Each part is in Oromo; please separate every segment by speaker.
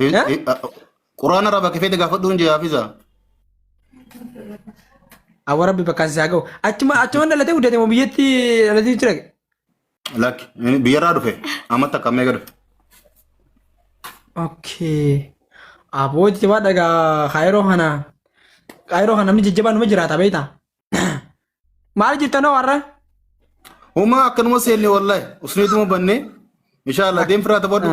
Speaker 1: Hin- Eh? hin- a- Quraan
Speaker 2: irraa bakka feete gaafadhuun jee hafiza.
Speaker 1: Awwa rabbi bakkaan isaa ga'u. Achuma achuma dhalatee guddate moo biyyatti dhalatee jira. Lakki
Speaker 2: inni biyyarraa dhufe amma takka amma eega dhufe. Okay.
Speaker 1: Aboo jajjabaa dhagaa kaayiroo kana kaayiroo kana namni jajjabaa numa jiraata beektaa? Maal jirtan hoo har'a? Huma
Speaker 2: akkanuma seenne wallahi usneetuma banne inshallah deem firaa taphadhu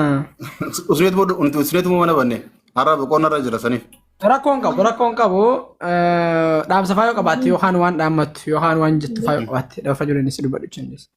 Speaker 2: usneetuma nuti usneetuma mana banne har'a boqonnaa irra jira saniif. Rakkoo hin qabu, rakkoo hin
Speaker 1: qabu. Eh, Dhaamsa faayoo qabaatte yookaan waan dhaammattu yookaan waan jettu faayoo qabaatte lafa ijoolleen si dubbadhu chinnis.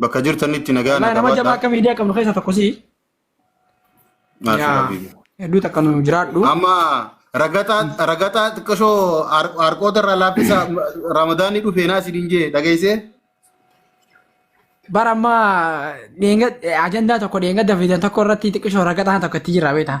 Speaker 1: Bakka jirtanitti
Speaker 2: nagaa Wallahi na nama jabaa qabaadhaa. akka miidiyaa
Speaker 1: qabnu keessaa tokko si. Maashuu
Speaker 2: Yaa Rabbii. hedduu takka
Speaker 1: nu
Speaker 2: jiraadhu.
Speaker 1: Amma
Speaker 2: ragataa ragataa xiqqashoo har- harqoota irraa laaffisa ramadaanni dhufee naa isin hin jee dhageessee.
Speaker 1: Bara ammaa dheenga ajandaa tokko dheengadda fidan tokko irratti xiqqishoo ragataan tokko itti jira beektaa.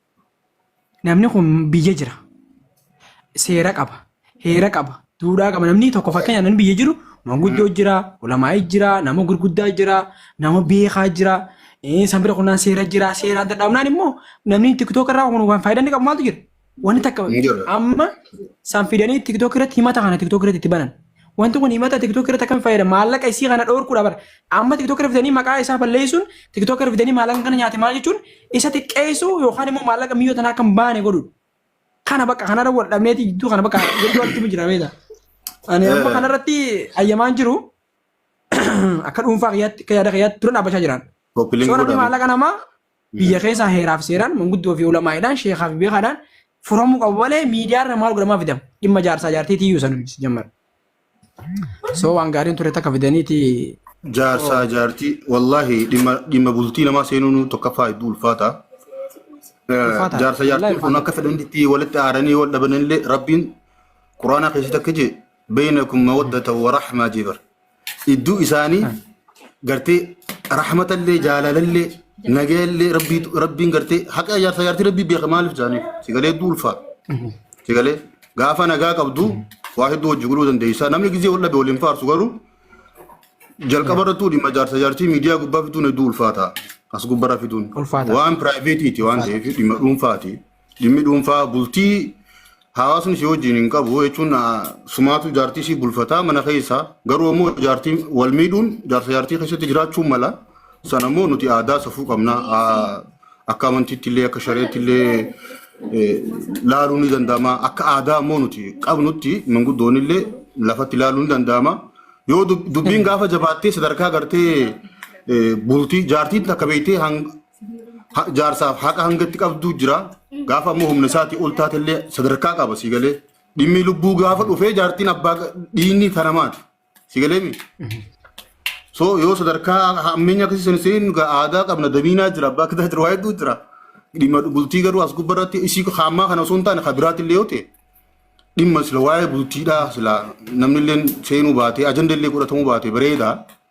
Speaker 1: Namni kun biyya jira. Seera qaba. Heera qaba. Duudhaa qaba. Namni tokko fakkeenyaaf namni biyya jiru manguddoo jira, ulamaa'ii jira, nama gurguddaa jira, nama beekaa jira. Eh, San bira kunnaan seera jira. Seeraan dadhabnaan immoo namni tiktook irraa kun waan faayidaan inni qabu maaltu jira? Wanni takka Hin jiru. amma san fidanii tiktook irratti himata kana tiktook irratti itti banan. Wanti kun himata TikTok irratti akkam fayyada? Maallaqa isii kana dhoorkuudha bara. Amma TikTok irra fidanii maqaa isaa balleessuun TikTok irra fidanii maallaqa kana nyaate maal jechuun isa xiqqeessuu yookaan immoo maallaqa miyyoo tanaa kan baane godhuudha. Kana bakka kanarra wal dhabneeti jidduu kana bakka jidduu walitti jira beektaa. Ani amma Eh. kanarratti ayyamaan jiru akka dhuunfaa kiyyaatti akka yaada kiyyaatti dura dhaabbachaa jiraan. Kopiliin Soo namni godhame. maallaqa namaa Biyya keessaa heeraaf seeraan manguddoo fi ulamaa'idhaan sheekaa fi beekaadhaan furamuu qabu malee miidiyaa irra maal godhamaa fidama. Dhimma jaarsaa jaartiitii iyyuu sana nuti jammara. So waan gaariin ture takka fidaniiti. Jaarsaa
Speaker 2: jaartii wallaahi dhimma dhimma bultii namaa seenuun tokkoffaa hedduu ulfaata. Eh, Ulfaata. Jaarsa Wallaahi jaartiin kun ulfaata. akka fedhanitti walitti aaranii wal dhabanillee rabbiin quraanaa keessatti akka jee beeynakum mawaddata wa rahmaa jee bara. idduu isaanii gartee rahmatallee jaalalallee nagayallee rabbii rabbiin gartee haqa jaarsa jaartii rabbii beeka maaliif jaaniif sigalee hedduu ulfaa sigalee gaafa nagaa qabdu waa hedduu hojii godhuu dandeessaa namni gizee wal dhabe waliin faarsu garuu jalqaba irrattuu dhimma jaarsa jaartii miidiyaa gubbaa fiduun hedduu ulfaataa as gubbarra fiduun Ulfaataa. waan piraayiveetiiti waan ta'eef dhimma dhuunfaati. Dhimmi dhuunfaa bultii hawaasni si wajjin hin qabu jechuun ah, sumaatu jaartii si bulfataa mana keessaa garuu ammoo jaartii wal miidhuun jaarsa jaartii keessatti jiraachuun mala sana ammoo nuti aadaa safuu qabna Ah, akka amantiitti illee akka shareetti illee eh, laaluun ni danda'ama akka aadaa ammoo nuti qabnutti manguddoon illee lafatti laaluun ni danda'ama yoo dub- dubbiin gaafa jabaattee sadarkaa gartee eh, bultii jaartiin takka beektee hang- ha- jaarsaaf haqa hanga itti qabdu jira. Gaafa ammoo humna isaatii ol taate illee sadarkaa qaba si galee. Dhimmi lubbuu gaafa dhufee jaartiin abbaa ga- dhiinni kana maati. Si galee mi? So yoo sadarkaa hammeenya akkasii sana seennu gaa aadaa qabna damiinaa jira abbaa kitaa jira waa hedduu jira. Dhimma bultii garuu as gubbaa irratti isii haamaa kana osoo hin taane kan biraatti illee yoo ta'e dhimma sila waa'ee bultiidhaa sila namni illee seenuu baatee ajanda illee godhatamuu baatee bareedaa.